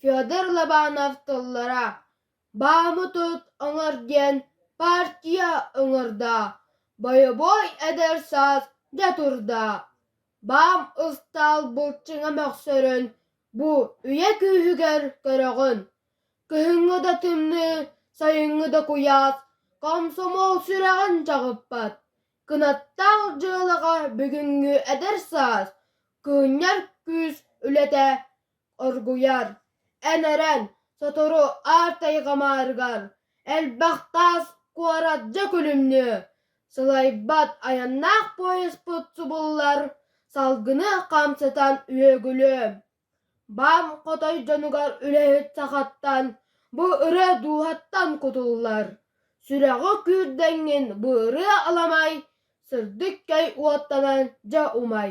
Федор Лобанов тыллара «Бааммытыт ыҥыр диэн партия ыҥырда, бойобуой эдэр саас дьэ турда, баам ыстаал былчыҥа мөхсөрүн бу үйэ күүһүгэр көрөҕүн, кыһыҥҥы да тымныы, сайыҥҥы да куйаас комсомол сүрэҕин чаҕыппат, кынаттаах дьыалаҕа бүгүҥҥү эдэр саас, кыынньар күүс үлэтэ оргуйар, эн эрэн, сотору аартайҕамаарыгар элбэх таас куорат дьэ күлүмнүө, сылайбат айаннаах поезпыт субуллар, салгыны хамсатан үөгүлүөм. Бам хотой дьонугар үлэһит сахаттан, бу ырыа дууһаттан кутуллар. Сүрэҕи күүрдэҥҥин бу ырыа аламай, сырдык кэй уоттанан дьэ умай.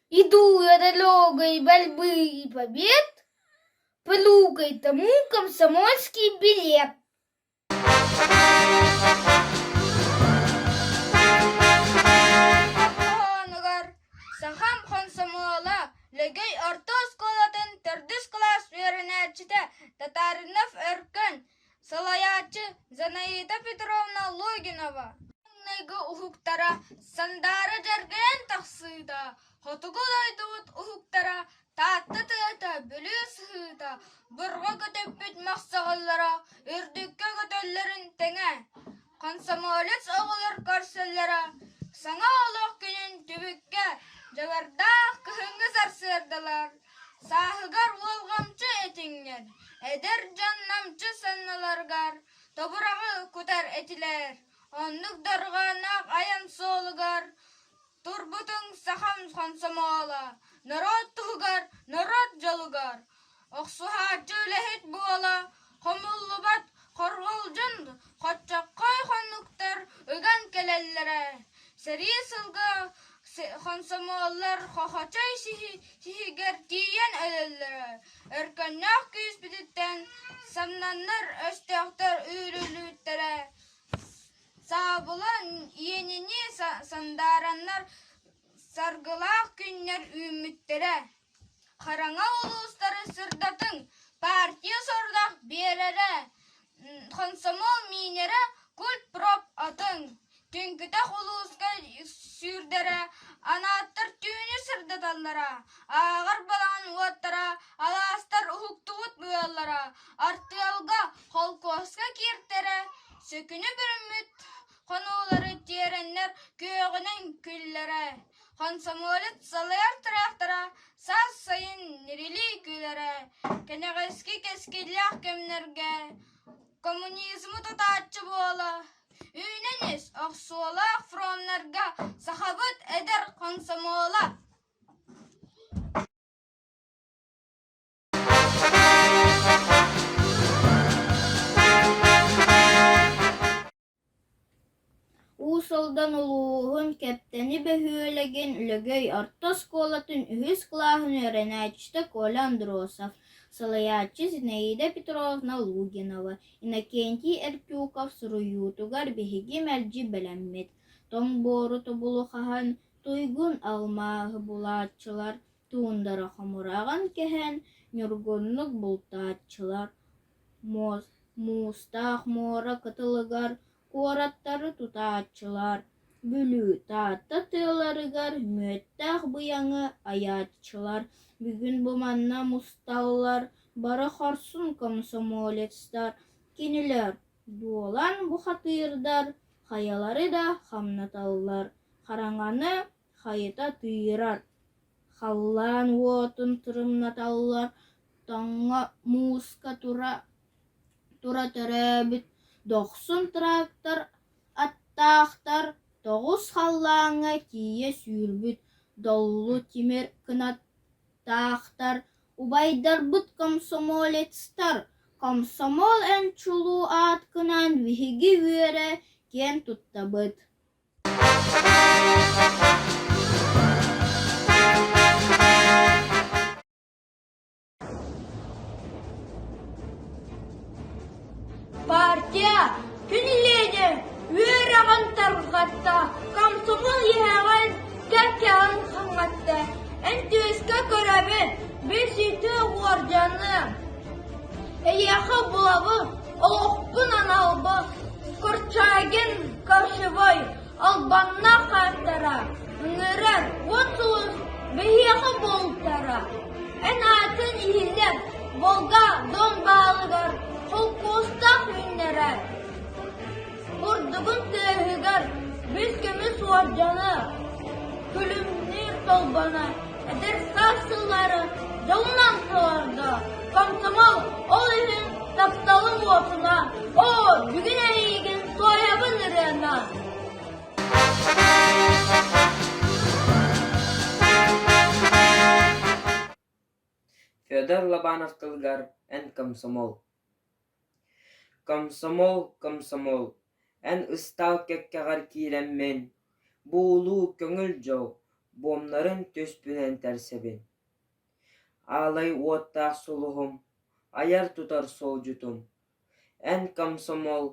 Иду дорогой борьбы и побед, плюгай-то комсомольский билет. Онугар сахам хомсомуола Лөгөй орто оскуолатын төрдүс кылаас үөрэнээччитэ Татаринов Өркөн салайааччы Зинаида Петровна Логинова маҥнайгы уһуктара Сандаара дьэргэйэн тахсыыта, хотугу дойдубут уһуктара Таатта тыата бүлүү сыһыыта, бурҕа көтөппүт махсаҕаллара үрдүккэ көтөллөрүн тэҥэ Комсомолец оҕолор көрсөллөрө саҥа олох күнүн түбүккэ дьылардаах кыһыҥҥы сарсыардалар сааһыгар уолҕамчы этиҥҥэр эдэр дьон намчы санныларыгар тобураҕы кутар этилэр оннук дорҕоонноох айан суолугар Турбутуҥ сахам хомсомооло, норуот туһугар, норуот дьолугар! Охсуһааччы үлэһит буола хомуллубат хорҕолдьун хоччоххой хонуктар уган кэлэллэрэ. Сэрии сылга хомсомуоллар хохочой сиһигэр тиийэн өлөллөрө. Өркөннөөх күүспүтүттэн самнаннар өстөөхтөр үүрүллүбүттэрэ. Саабылан иэнини сандаараннар саргылаах күннэр үүммүттэрэ. Хараҥа улуустары сырдатыҥ, партия сорудах биэрэрэ, хомсомуол миинэрэ, культпроп атыҥ. Түҥкүтэх улууска сүүрдэрэ, анааттар түүнү сырдаталлара, ааҕар балаҕан уоттара, алаастар уһуктубут быаллара, артыалга Холкуоска кииртэрэ, сөкүнэ бүрүммүт хонуулары тиэрэннэр күөҕүнэн күллэрэ, хомсомуолец салайар тыраахтара саас сайын ньирилии күлэрэ, кэнэҕэски кэскиллээх кэмнэргэ коммунизмы тутааччы буола, үүнэн ис охсуулаах фроннарга сахабыт эдэр хомсомуола Уус Алдан улууһун Кэптэни бөһүөлэгин Лөгөй орто оскуолатын үһүс кылааһын үөрэнээччитэ Коля Андросов, салайааччы Зинаида Петровна Лугинова, Иннокентий Эртюков суруйуутугар биһиги мэлдьи бэлэммит. Тоҥ буору тобулу хаһан, туйгун алмааһы булааччылар Туундара хомураҕын кэһэн ньургуннук бултааччылар. Муустаах муора кытылыгар куораттары тутааччылар. Бүлүү Таатта тыаларыгар мүөттээх быйаҥы айааччылар. Бүгүн бу манна мусталлар, бары хорсун комсомолецтар. Кинилэр дуолан бухатыырдар, хайалары да хамнаталлар. Хараҥаны Хайата тыыран, халлаан уотун тырымнаталлар, тоҥо мууска тура тура төрөөбүт дохсун трактор аттаахтар тоҕус халлааҥҥа тиийэ сүүрбүт доллу тимир кынаттаахтар, убайдарбыт комсомолецтар, комсомол эн чулуу аатгынан биһиги үөрэ киэн туттабыт Партия кинилиэнэ үөрэҕин тарҕатта, комсомол иһэҕин кэккэҕин хаҥатта, эн түөскэ көрөбүн, бэсиитэ уордьаны. Эйиэхэ булабын. олохпун аналбын курчагин кошевой албаннаах ааттара ынырар уотулус биһиэхэ буолтара эн аатын иһилэр волга дон баалыгар холкуостаах үүннэрэр Бурдугун тыаһыгар бис көмүс уордьана, күлүмнүүр толбана, эдэр саас сыллара дьолунан сыларда. Комсомол ол иһин тапталын уотуна, оо, бүгүн эйигин соябын ырыана. Федор Лобанов тылыгар Эн комсомол Комсомол, комсомол, эн ыстаал кэккэҕэр киирэммин, буулуу көҥүл дьол буомнарын түспүнэн тэрсэбин. Аалай уоттаах сулуһум, айар-тутар суолдьутум, эн комсомол,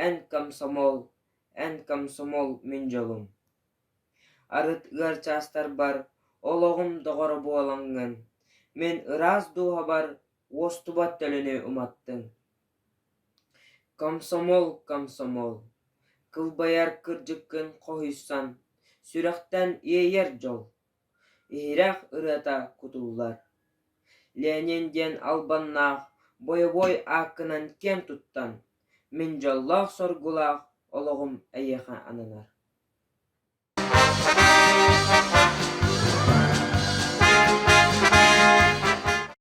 эн комсомол, эн комсомол мин дьолум. Арыт ыар чаастарбар олоҕум доҕоро буолаҥҥын, мин ыраас дууһабар уостубат төлөнү уматтыҥ комсомол комсомол кылбайар кырдьыккын хоһуйсан сүрэхтэн иэйэр дьол иһирэх ырыата кутуллар ленин диэн албаннаах бойобуой ааккынан киэн туттан мин дьоллоох соргулаах олоҕум эйиэхэ ананар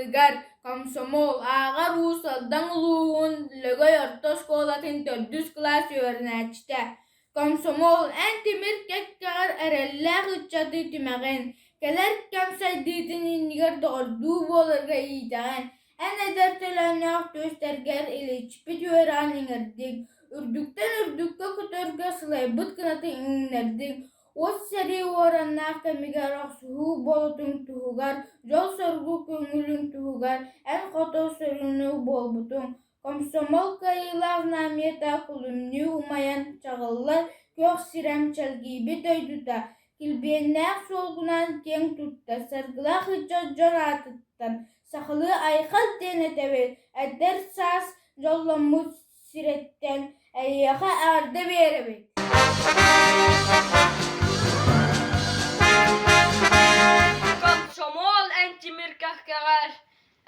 тылыгар комсомол ааҕар уус Алдан улууһун Лөгөй орто оскуолатын төрдүс кылаас үөрэнээччитэ. Комсомол эн тимир кэккэҕэр эрэллээх ыччаты түмэҕин, кэлэр кэм сайдыытын иннигэр доҕордуу буоларга иитэҕин, Эн эдэр төлөннөөх түстэргэр иличпит үөрэҕин иҥэрдиҥ, үрдүктэн үрдүккэ көтөргө сылайбыт кынаты иҥнэрдиҥ, от сэрии уораннаах кэмигэр охсуһуу болутуҥ туһугар, дьол-соргу көҥүлүҥ туһугар эн хото сүрүннүү буолбутуҥ, комсомол кыайыылаах наамыйата кулумнүү умайан чаҕыллар күөх сирэм чэлгийбит дойдута килбиэннээх суолгунан киэҥ тутта, саргылаах ыччат дьон аатыттан Сахалыы айхал диэн этэбин, эдэр саас дьолломмут сириттэн эйиэхэ эҕэрдэ биэрэбит Комсомол эн тимиркэхкэҕэр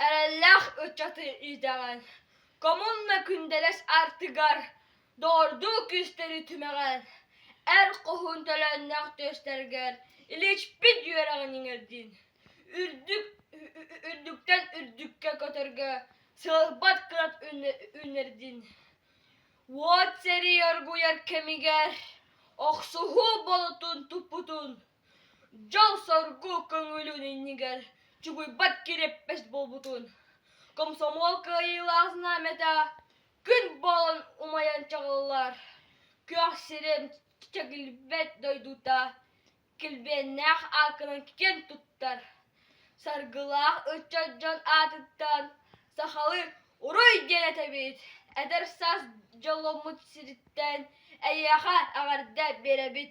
эрэллээх ыччатын идэҕин коммуна күндэлэс артыгар доорду күүстэри түмэҕин эр хоһуун төлөннөх түөстэргэр иличпит үөрэҕин иҥэрдин үрдүк үрдүктэн үрдүккэ көтөргө сылыппат кынат үүнэрдин уот сэрии оргуйар кэмигэр охсуһуу болотун туппутун дьол-соргу көҥүлүн иннигэр чугуйбат кирэппэс буолбутун комсомол кыайыылаах знамята күн буолан умайан чаҕыллар күөх сирим чэкилбэт дойдута килбиэннээх ааккынан киэн туттар саргылаах ыччат дьон аатыттан сахалыы уруй диэн этэбит эдэр саас дьолломмут сириттэн эйиэхэ эҕэрдэ биэрэбит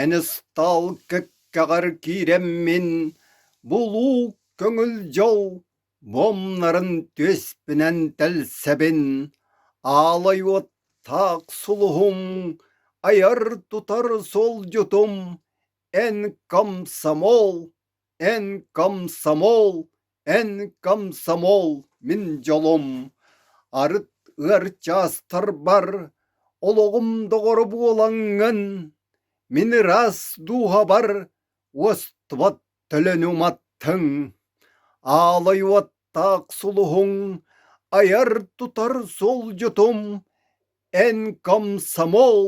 Эн ыстаал кэккэҕэр киирэммин, булуу көҥүл дьол муомнарын түөспүнэн тэлсэбин, аалай уоттаах сулуһум, айар-тутар суолдьутум, эн комсомол Эн комсомол, эн комсомол, мин дьолум, арыт ыар чаастарбар олоҕум доҕоро буолаҥҥын, мин ыраас дууһабар уостубат төлөнү уматтыҥ, аалай уоттаах сулуһуҥ, айар-тутар суолдьутум, эн комсомол,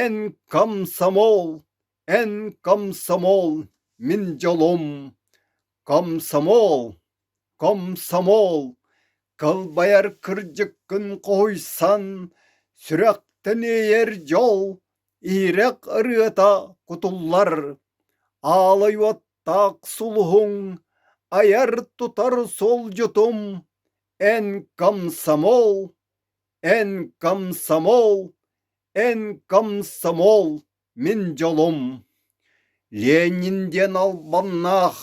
эн комсомол! Эн комсомол, мин дьолум, комсомол, комсомол, кылбайар кырдьыккын хоһуйсан, сүрэхтэн иэйэр дьол, иһирэх ырыата кутуллар, аалай уоттаах сулуһуҥ, айар-тутар суолдьутум, эн комсомол, эн комсомол, эн комсомол. Мин дьолум Ленин диэн албаннаах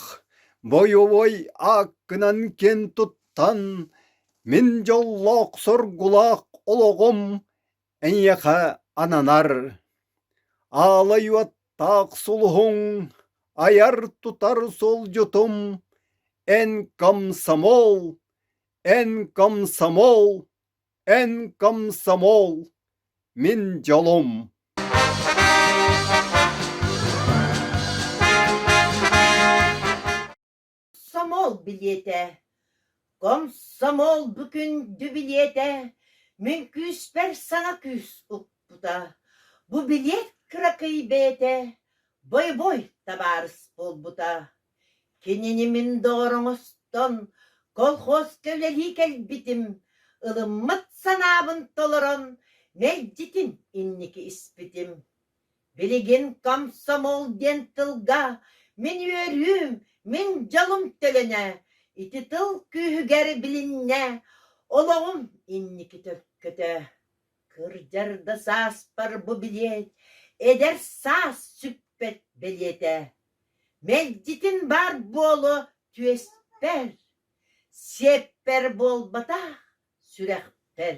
бойобуой ааккынан киэн туттан мин дьоллоох-соргулаах олоҕум эйиэхэ ананар. Аалай уоттаах сулуһуҥ, айар-тутар суолдьутум, эн комсомол, эн комсомол! Эн комсомол, мин дьолум Комсомол билиэтэ Комсомол бу күндү билиэтэ Мин күүспэр саҥа күүс укпута Бу билиэт кыракый бэйэтэ Бой-бой табаарыс буолбута Кинини мин доҕороҥостон колхоз кэлэлии кэлбитим, ылыммыт санаабын толорон мэлдьитин инники испитим. Билигин комсомол диэн тылга мин үөрүүм, мин дьолум төлөнө, ити тыл күүһүгэр билиннэ, олоҕум инники төлкөтө. Кырдьар да сааспар бу билиэт, эдэр саас сүппэт бэлиэтэ. Мэлдьитин баар буолуо түөспэр, сиэппэр буолбатах сүрэхпэр.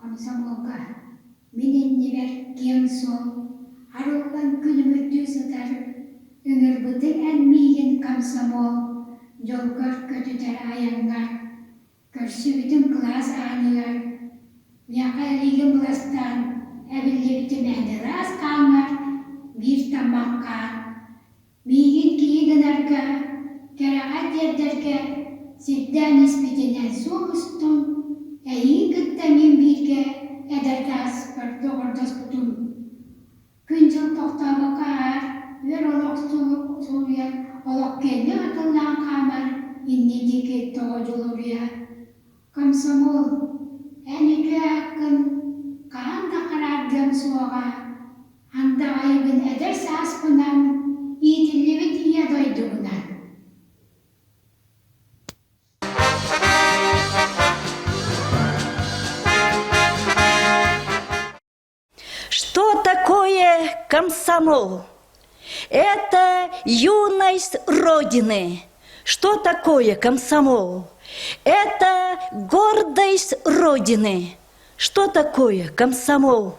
Комсомолга, мин иннибэр киэҥ-суох, арыллан күлүмүрдүү сытар, ыҥырбытыҥ эн миигин комсомол дьолгор көтүтэр айаҥҥа, көрсүбүтүм кылаас ааныгар, миэхэ илиигин быластаан эбиллибитим эн ыраас хааҥҥар биир тамахха, Миигин киһитинэргэ, кэрэҕэ тиэрдэргэ сирдээн испитинэн суох устум, эһиги кытта мин бииргэ эдэргэ ааспыппар доҕордоспутум. Күн-дьыл тохтообокко аһар, үөр олох сууйар, олох кэннэ атыллан хаамар иннин диэки тоҕо дьулуруйар. Комсомол, эн үтүө ааккын хаһан да хараардыам суоҕа. Андаҕайбын эдэр сааспынан иитиллибит Ийэ дойдубунан. Что такое комсомол? Это юность Родины. Что такое комсомол? Это гордость Родины. Что такое комсомол?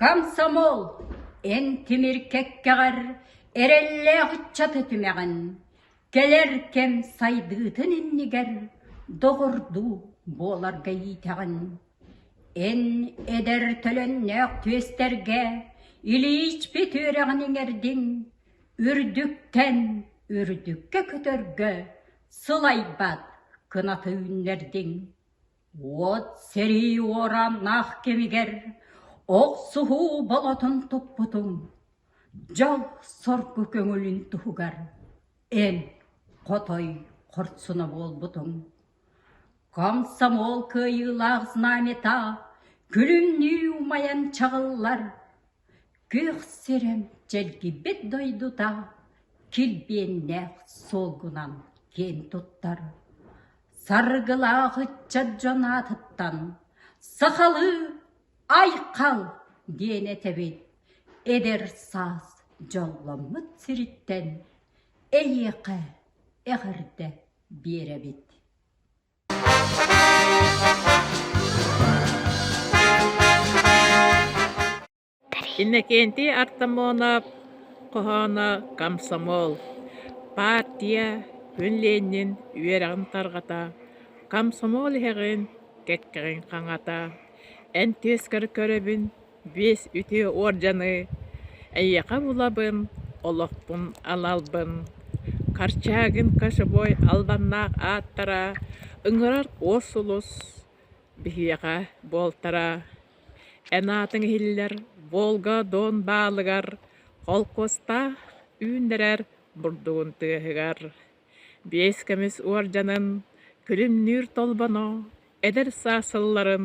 Комсомол, эн тимир кэккэҕэр эрэллээх ыччаты түмэҕин, кэлэр кэм сайдыытын иннигэр доҕордуу буоларга иитэҕин. Эн эдэр төлөннөөх түөстэргэ илиичпит үөрэҕин иҥэрдин, үрдүктэн үрдүккэ көтөргө сылайбат кынаты үүннэрдиҥ. Уот сэрии уорааннаах кэмигэр охсуһуу болотун туппутум, дьол-соргу көҥүлүн туһугар эн хотой хорсуна буолбутуҥ. Комсомол кыайыылаах знамята күлүмнүү умайан чаҕыллар Күөх сирим чэлгийбит дойдута килбиэннээх суолгунан киэн туттар, саргылаах ыччат дьон аатыттан «Сахалыы айхал!» диэн этэбин эдэр саас дьолломмут сириттэн эйиэхэ эҕэрдэ биэрэбит Иннокентий Артамонов хоһооно «Комсомол» партия күн Ленин үөрэҕин тарҕата, комсомол иһэҕин, кэккэҕин хаҥата. Эн түөскэр көрөбүн, биэс үтүө уордьаны эйиэхэ булабын олохпун аналбын Корчагин кочубой албаннаах ааттара ыҥырар уос улус биһиэхэ буолтара эн аатыҥ иһиллэр Волга Доон баалыгар холкуостаах үүннэрэр бурдугун тыаһыгар биэс кэмис уордьанын күлүмнүүр толбоно эдэр саас сылларын